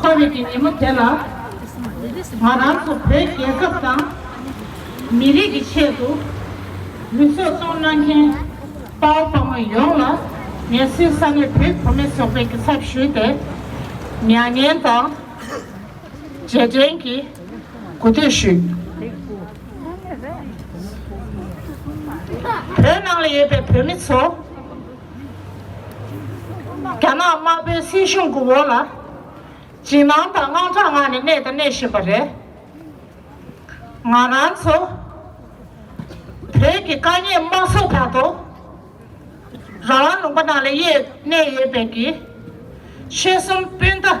ཁོ་བོས་ཀྱི་ཉིན་མོ་དེ་ལ་ང་རང་ཚོ་བོད་རྒྱལ་ཁབ་དང་མི་རིགས་ཀྱི་ཆེད་དུ་ལུས་སྲོག་བཙོང་གནང་མཁན་དཔའ་བོ་དཔའ་མོ་ཡོངས་ལ་ངལ་སེལ་ས་གནས་བོད་བུ་མེད་ཚོགས་པའི་གི་ཚབ་ཞུས་ཏེ་མྱ་ངན་དང་རྗེས་དྲན་གྱི་གུས་འདུད་ཞུས། བོད་ནང་ལ་ཡོད་པའི་བོད་མི་ཚོ། རྒྱ་ནག་དམར་པོའི་སྲིད་གཞུང་གི་འོག་ལ་འཇིགས་སྣང་དང་དངངས་སྐྲག་ངང་ནས་གནས་དང་གནས་བཞིན་པ་རེད། ང་རང་ཚོ་བོད་ཀྱི་དཀའ་ཉེས་དམའ་སོགས་བར་དུ་རང་དབང་ལུང་པ་ནང་ལ་ཡེ་གནས་ཡོད་པའི་གི་ཆོལ་གསུམ་སྤུན་ཟླ་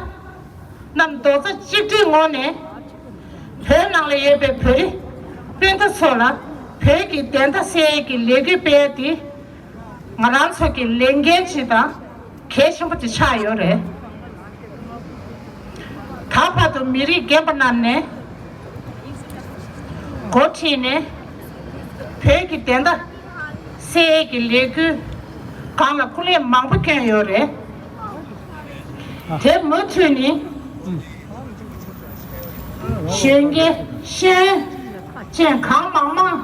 རྣམས་རྡོག་རྩ་གཅིག་སྒྲིལ་ངང་ནས་བོད་ནང་ལ་ཡོད་པའི་བོད་རིགས་སྤུན་ཟླ་ཚོ་ལ་བོད་ཀྱི་བདེན་མཐའ་གསལ་གྱི་ལས་འགུལ་སྤེལ་ཏེ། ང་རང་ཚོ་གི་ལས་འགན་གཅིག་དང་གལ་ཆེན་པོ་དེ་ཆགས་ཡོད་རེད། ད་བར་དུ་མི་རིགས་རྒན་པ་རྣམས་ནས་འགོ་ཁྲིད་ནས་བོད་ཀྱི་བདེན་མཐའ་གསལ་ཡས་ཀྱི་ལས་འགུལ་སྒང་ལ་སྐུ་ལས་མང་པོ་བསྐྱོན་ཡོད་རེད། དེ་མུ་མཐུད་ནས་གཞོན་སྐྱེས་གཞན་བཅས་གང་མང་མང་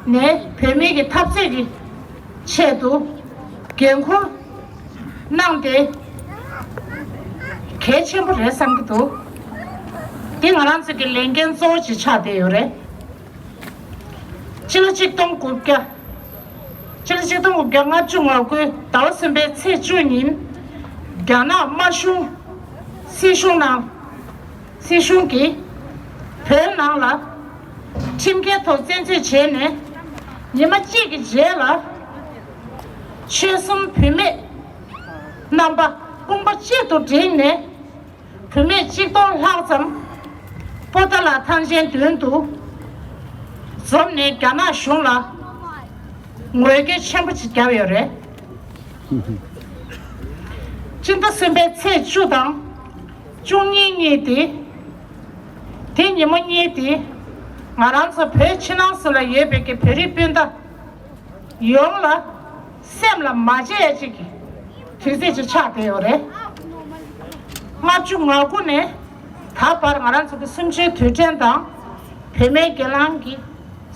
ནས་བུད་མེད་ཀྱི་འཐབ་རྩོད་ཀྱི་ཆེད་དུ་འགན་འཁུར་གནང་སྟེ་གལ་ཆེན་པོ་རེད་བསམ་གྱི་འདུག་འདི་ང་རང་ཚོའི་གི་ལས་འགན་གཙོ་བོ་ཞིག་ཆགས་བསྡད་ཡོད་རེད། སྤྱི་ལོ་གཅིག་སྟོང་དགུ་བརྒྱ། སྤྱི་ལོ་གཅིག་སྟོང་དགུ་བརྒྱ་ལྔ་བཅུ་ང་དགུའི་ཟླ་བ་གསུམ་པའི་ཚེས་བཅུ་ཉིན་རྒྱ་ནག་དམར་གཞུང་སྲིད་གཞུང་ནང་སྲིད་གཞུང་གིས་བོད་ནང་ལ་ཁྲིམས་འགལ་ཐོག་བཙན་འཛུལ་བྱས་ནས་ཉི་མ་གཅིག་གི་རྗེས་ལ། ཆོལ་གསུམ་བུད་མེད་རྣམ་པ་དཔུང་པ་གཅིག་ཏུ་བསྒྲིལ་ནས་བུད་མེད་གཅིག་སྟོང་ལྷག་ཙམ་པོ་ཏཱ་ལ་ཐང་ཆེན་མདུན་དུ་འཛོམས་ནས་རྒྱ་ནག་གཞུང་ལ་ངོས་སྐྱོད་ཆེན་པོ་བརྒྱབ་ཡོད་རེད། སྤྱི་ཟླ་གསུམ་པའི་ཚེས་བཅུ་དང། བཅུ་གཉིས་རྙེད་དེ། དེ་ཉིན་མོ་རྙེད་དེ། ང་རང་ཚོ་བོད་ཕྱི་ནང་སུ་ལ་ཡོད་པའི་གི་བོད་རིགས་སྤུན་ཟླ་ཡོངས་ལ་སེམས་ལ་མ་བརྗེད་ཅིག་གི་དུས་ཚེས་ཅིག་ཆགས་བསྡད་ཡོད་རེད། ལྔ་བཅུ་ང་དགུ་ནས་ད་བར་ང་རང་ཚོ་གི་སུམ་ཅུའི་དུས་དྲན་དང། བོད་མའི་སྒེར་ལངས་ཀྱི་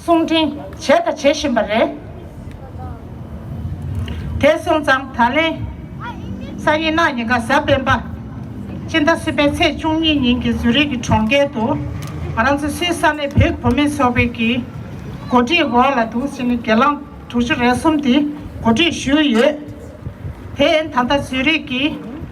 གསུང་འཕྲིན་བྱས་དང་བྱེད་བཞིན་པ་རེད། དེ་སོང་ཙང་ད་ལན་ས་ཡི་ནག་ཉེས་ཀ་གཟའ་སྤེན་པ་སྤྱི་ཟླ་སི་པའི་ཚེས་བཅུ་གཉིས་ཉིན་གྱི་ཟུ་རིག་གི་གྲོང་ཁྱེར་དུ་ང་རང་ཚོ་སུའི་ས་གནས་བོད་བུ་མེད་ཚོགས་པའི་གི་གོ་སྒྲིག་འོག་ལ་དུང་ཕྱི་ནས་སྒེར་ལངས་དྲུག་ཅུ་རེ་གསུམ་དེ་གོ་སྒྲིག་ཞུས་ཡོད། དེ་ད་ལྟ་ཟུ་རིག་གི་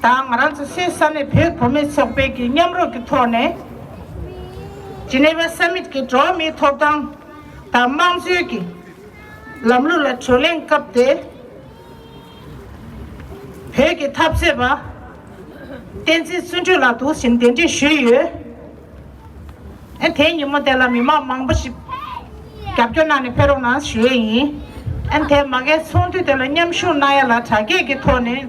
དང་ང་རང་ཚོ་སའི་ས་ནས་བོད་གོ་མེད་ཚོགས་པའི་གིས་མཉམ་རོགས་ཀྱི་ཐོག་ནས། Geneva Summit གི་འགྲོ་བ་མིའི་ཐོབ་ཐང་དང་དམངས་གཙོའི་གི་ལམ་ལུགས་ལ་གྲོས་གླེང་སྐབས་ཏེ། བོད་ཀྱི་འཐབ་རྩོད་པ་བསྟན་འཛིན་བརྩོན་འགྲུས་ལགས་དུ་ཕྱིན་གདན་འདྲེན་ཞུས་ཡོད། དེའི་ཉིན་མོ་དེ་ལ་མི་མང་མང་པོ་ཞིག་རྒྱབ་སྐྱོར་གནང་ནས་ཕེབས་རོགས་གནང་ཞུས་ཡོད་ཡིན། དེ་མ་གལ་ཚོགས་འདུ་དེ་ལ་མཉམ་ཞུགས་གནང་ཡ་ལ་དྲ་རྒྱས་ཀྱི་ཐོག་ནས།